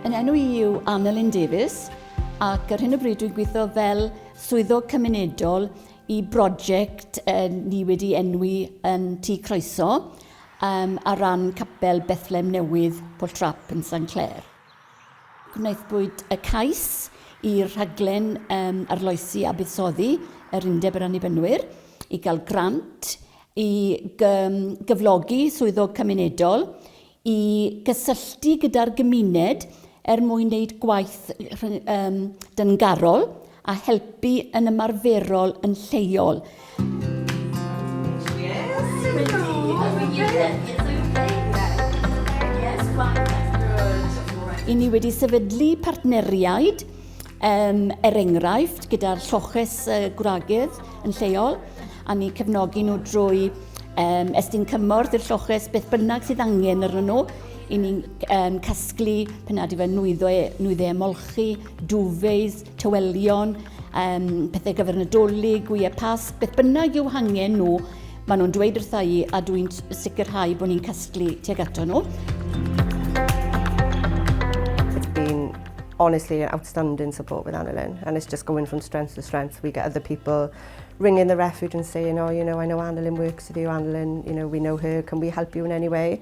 Yn enw i yw Annelyn Davies ac ar hyn o bryd dwi'n gweithio fel swyddog cymunedol i brosiect uh, ni wedi enwi yn Tŷ Croeso um, ar ran capel Bethlem Newydd Pwlltrap yn San Clair. Gwnaethpwyd y cais i'r rhaglen yym arloesi a buddsoddi yr Undeb yr Annibynwyr i gael grant i gym gyflogi swyddog cymunedol i gysylltu gyda'r gymuned er mwyn wneud gwaith rhy- yym dyngarol a helpu yn ymarferol yn lleol. I ni wedi sefydlu partneriaid, um, er enghraifft, gyda'r lloches uh, gwragydd yn lleol, a ni cefnogi nhw drwy um, estyn cymorth i'r lloches beth bynnag sydd angen arnyn nhw, i ni'n um, casglu penadu fe nwyddo e, nwyddo e molchi, duvets, tywelion, um, pethau gyfer nadolig, gwyau pas, beth bynnag yw hangen nhw, maen nhw'n dweud wrtha i a dwi'n sicrhau bod ni'n casglu tuag ato nhw. It's been honestly an outstanding support with Annalyn and it's just going from strength to strength. We get other people ringing the refuge and saying, oh, you know, I know Annalyn works with you, Annalyn, you know, we know her, can we help you in any way?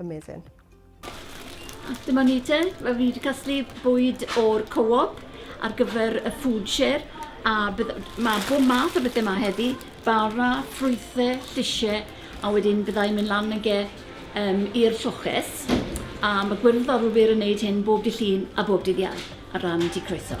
Amazing. Dyma ni te, mae fi wedi casglu bwyd o'r co-op ar gyfer y food share a bydd, mae bob math o bethau yma heddi, bara, ffrwythau, llysiau a wedyn byddai'n mynd lan yn ge um, i'r lloches a mae gwyrdd o'r wir yn gwneud hyn bob dy llun a bob dydd iau ar ran di croeso.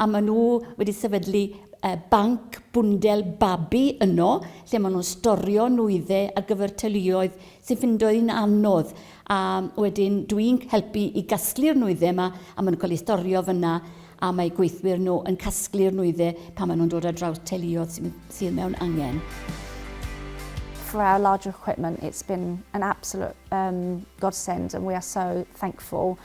a maen nhw wedi sefydlu banc bwndel babi yno lle maen nhw'n storio nwyddau ar gyfer teuluoedd sy'n ffindo hi'n anodd a wedyn dwi'n helpu i gasglu'r nwyddau yma a maen nhw'n cael eu storio fyna a mae gweithwyr nhw yn casglu'r nwyddau pan maen nhw'n dod ar draws teuluoedd sy'n, sydd mewn angen. For our larger equipment, it's been an absolute um, godsend and we are so thankful.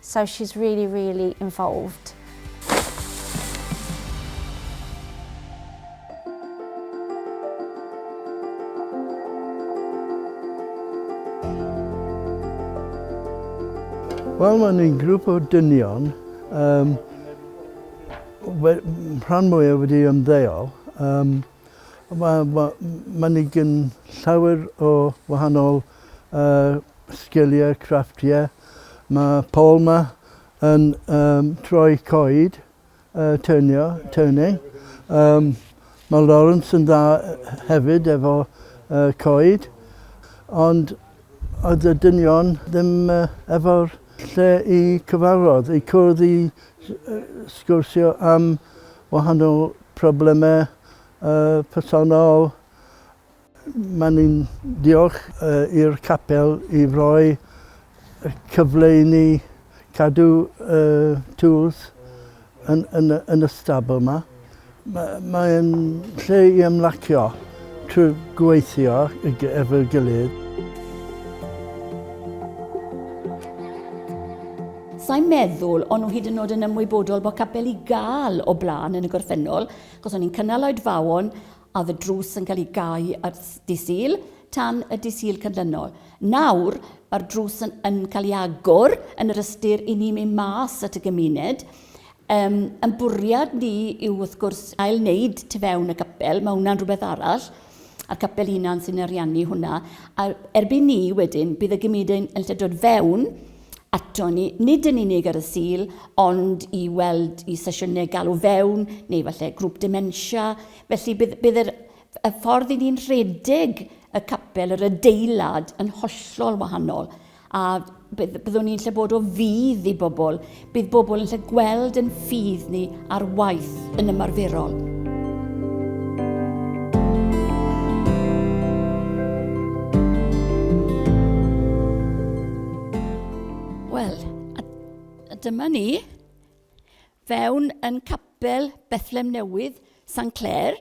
so she's really really involved. Wel mae'n un grŵp o dynion um, rhan mwyaf wedi ymddeol. Um, mae ma, ma ni gyn llawer o wahanol uh, sgiliau craftiau. Mae Paul 'ma yn um, troi coed, uh, turnio, turning. Um, mae Lawrence yn dda hefyd efo uh, coed, ond oedd y dynion ddim uh, efo'r lle i cyfarfod, i cwrdd i sgwrsio am wahanol problemau uh, personol, Maen ni'n diolch i'r capel i roi cyfle i ni cadw y tŵls yn, yn, yn y stabl yma. Mae'n lle i ymlacio trwy gweithio efo'r gilydd. Sa'n meddwl o'n nhw hyd yn oed yn ymwybodol bod capel i gael o blaen yn y gorffennol, achos o'n i'n cynnal oedfaon Oedd y drws yn cael ei gau ar Dydd Sul, tan y Dydd Sul canlynol. Nawr, mae'r drws yn, yn cael ei agor yn yr ystyr i ni mynd mas at y gymuned. Um, yn bwriad ni yw wrth gwrs ail wneud tu fewn y capel, mae hwnna'n rhywbeth arall a'r capel hunan sy'n ariannu hwnna. A erbyn ni wedyn, bydd y gymuned yn lle dod fewn aton ni, nid yn unig ar y Sul, ond i weld i sesiynau galw fewn, neu falle grŵp dementia. Felly bydd, bydd yr, y ffordd i ni'n rhedeg y capel, yr adeilad, yn hollol wahanol. A bydd, byddwn ni'n lle bod o fydd i bobl. Bydd bobl yn lle gweld yn ffydd ni ar waith yn ymarferol. dyma ni fewn yn capel Bethlem Newydd, San Clair,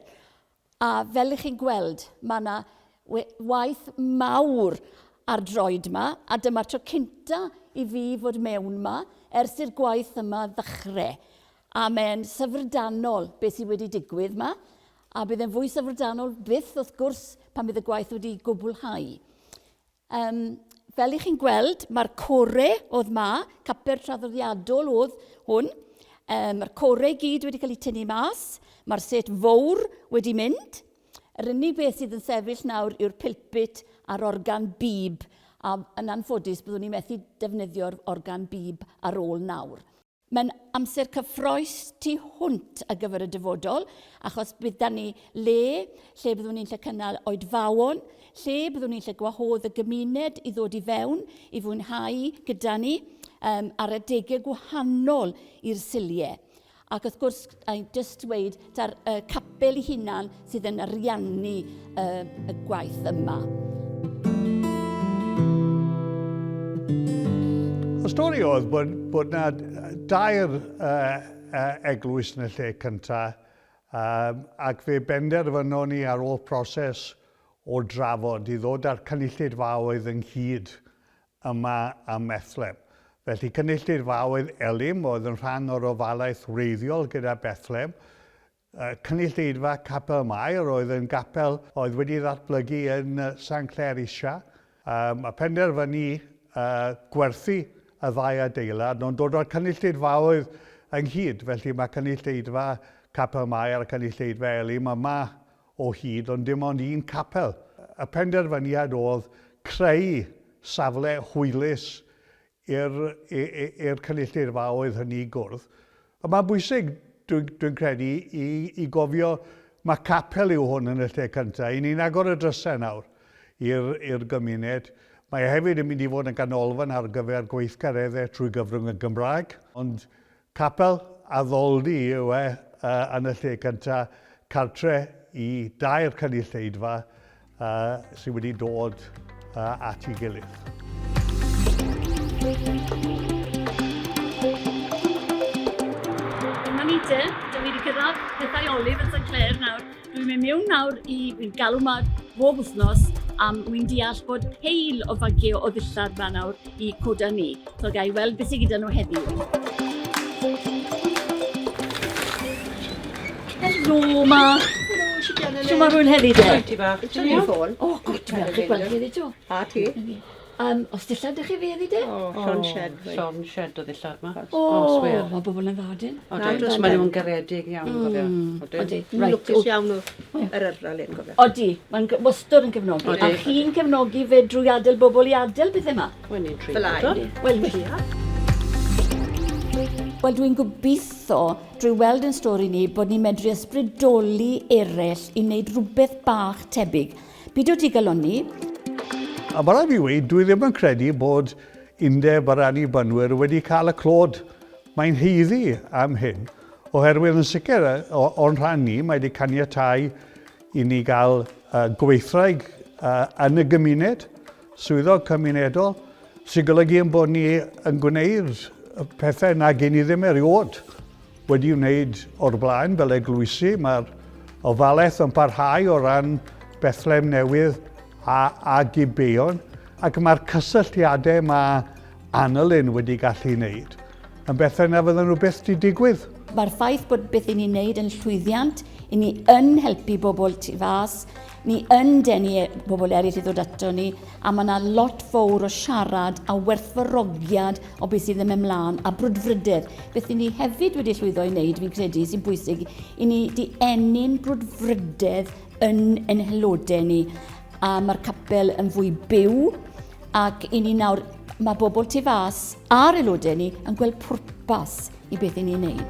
A fel y'ch chi'n gweld, ma' 'na we- waith mawr ar droed 'ma, a dyma'r tro cynta' i fi fod mewn 'ma ers i'r gwaith yma ddechre. A m'e'n syfrdanol be' sy wedi digwydd 'ma, a bydd e'n fwy syfrdanol byth wrth gwrs pan bydd y gwaith wedi gwblhau. Yym, fel i chi'n gweld, mae'r core oedd ma, capper traddodiadol oedd hwn. Yym, mae'r core i gyd wedi cael ei tynnu mas, mae'r set fowr wedi mynd. Yr unig beth sydd yn sefyll nawr yw'r pilpit a'r organ bib, a yn anffodus byddwn ni'n methu defnyddio'r organ bib ar ôl nawr. Mae'n amser cyffroes tu hwnt ar gyfer y dyfodol, achos bydd 'da ni le, lle byddwn ni'n lle cynnal oedfaon, lle byddwn ni'n lle gwahodd y gymuned i ddod i fewn, i fwynhau gyda ni, um, ar adegau gwahanol i'r siliau. Ac wrth gwrs, I jyst dweud, da'r uh, capel i hunan sydd yn ariannu uh, y gwaith yma. Y stori oedd bod, bod na dair uh, uh, eglwys yn y lle cyntaf, um, ac fe benderfynon ni ar ôl proses o drafod i ddod â'r cynulleidfaoedd ynghyd yma ym Methlehem. Felly, cynulleidfaoedd Elim oedd yn rhan o'r ofalaeth wreiddiol gyda Bethlehem. Cynulleidfa Capel Mair oedd yn gapel oedd wedi ddatblygu yn San Clair Isha. Um, a penderfynu uh, gwerthu y ddau adeilad, nhw'n dod o'r cynulleidfaoedd ynghyd, felly mae cynulleidfa Capel Mair a cynulleidfa Elim yma o hyd ond dim ond un capel. Y penderfyniad oedd creu safle hwylus i'r cynulleidfaoedd hynny gwrdd. A mae'n bwysig, dwi'n credu, i gofio mae capel yw hwn yn y lle cyntaf. I ni'n agor y drysau nawr i'r gymuned. Mae e hefyd yn mynd i fod yn ganolfan ar gyfer gweithgareddau trwy gyfrwng y Gymraeg. Ond Capel addoldy yw e yn y lle cyntaf, cartre i dair cynulleidfa sydd wedi dod at ei gilydd. Dyma ni te, dw i wedi cyrraedd pethau Olive yn St Clair nawr. Dwi'n mynd mewn nawr i fi'n galw ma bob wythnos am wi'n deall bod peil o fagio o ddillad ma nawr i coda ni. So gai weld beth sy'n gyda nhw heddiw. Helo, ma. Siwmar hwyl heddi de. Ti bach. Ti'n iawn? O, gwt, dwi'n gweld chi heddi to. A ti? Yym, os dillad dych chi fedd i de? O, llon shed fi. Llon shed o ddillad ma. O, mae bobl yn dda dyn. Odyn, mae nhw'n garedig iawn, cofio. Odi, mae'n lwcus iawn o yr yrfa le, cofio. Odi, mae'n wastod yn cefnogi. A chi'n cefnogi fe drwy adael bobl i adael pethau ma? Wel, ni'n tri. Fel ai. Wel, ni'n tri. Wel, dwi'n gobeithio, drwy weld yn stori ni, bod ni'n medru ysbrydoli eraill i wneud rhywbeth bach tebyg. Bidw digalonni. A ma' raid fi weud, dwi ddim yn credu bod Undeb yr Annibynwyr wedi cael y clod mae'n haeddu am hyn, oherwydd yn sicr o, o'n rhan ni, mae wedi caniatáu i ni gael uh, gweithraig uh, yn y gymuned, Swyddog cymunedol, sy'n golygu ein bod ni yn gwneud y pethau nag i ni ddim erioed wedi wneud o'r blaen fel eglwysi. Mae'r ofalaeth yn parhau o ran Bethlem Newydd a, a Gibeon, ac mae'r cysylltiadau mae Anna Lynn wedi gallu ei wneud yn bethau na fydden nhw byth wedi digwydd. Mae'r ffaith bod beth i ni'n wneud yn llwyddiant, i ni yn helpu bobl tu fas, ni yn denu e- bobl eraill i ddod ato ni, a mae yna lot fawr o siarad a werthfarogiad o beth sydd yn mynd mlaen, a brwdfrydedd. Beth i ni hefyd wedi llwyddo i wneud, fi'n credu, sy'n bwysig, i ni di enni'n brwdfrydedd yn ein helodau ni. A mae'r capel yn fwy byw ac i ni nawr mae bobl tu fas a'r aelodau ni yn gweld pwrpas i beth i ni'n neud.